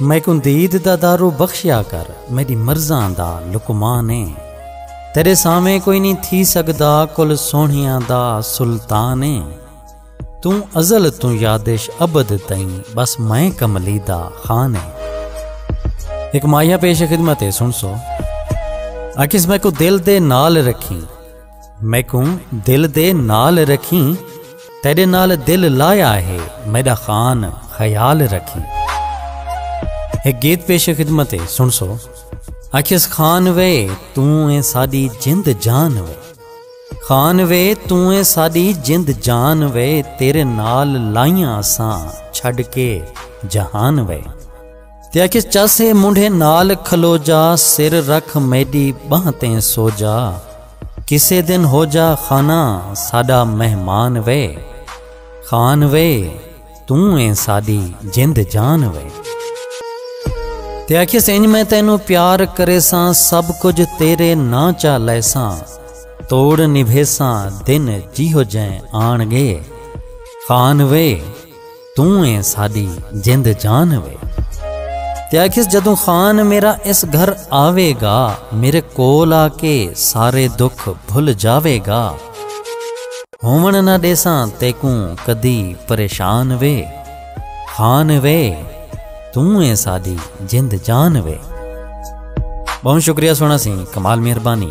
میکوں دید دا دارو بخشیا کر میڈی مرضاں دا لقمان ایں تیرے سامیں کوئی نہیں تھی سگدا کل سوہنیاں دا سلطان ایں توں ازل توں یادش ابد تئیں بس میں کملی دا خان ایں ایک مایا پیش خدمت ہے سن سو اکس میں کو دل دے نال رکھیں میکوں دل دے نال رکھیں تیرے نال دل لایا ہے میڈا خان خیال رکھیں ایک گیت پیش خدمت ہے سن سو اکھس خان وے توں اے ساڈی جند جان وے خان وے توں اے ساڈی جند جان وے تیرے نال لائیاں اساں چھڈ کے جہان وے تے آکھیس چاسے منڈھے نال کھلو جا سر رکھ میڈی بہاں تے سو جا کسے دن ہو جا خانہ ساڈا مہمان وے خان وے توں اے ساڈی جند جان وے تے آکھیس انج میں تینو پیار کریساں سب کچھ تیرے نہ چا لیساں توڑ نبھیساں دن جیہو جیں آن گے خان وے توں ایں ساڈی جند جان وے۔ تے آکھیس جدوں خان میرا اس گھر آوے گا میرے کول آ کے سارے دکھ بھل جاوے گا ہوون نہ ڈیساں تیکوں کدی پریشان وے خان وے توں ایں ساڈی جند جان وے بہوں شکریہ سونا سی کمال مہربانی۔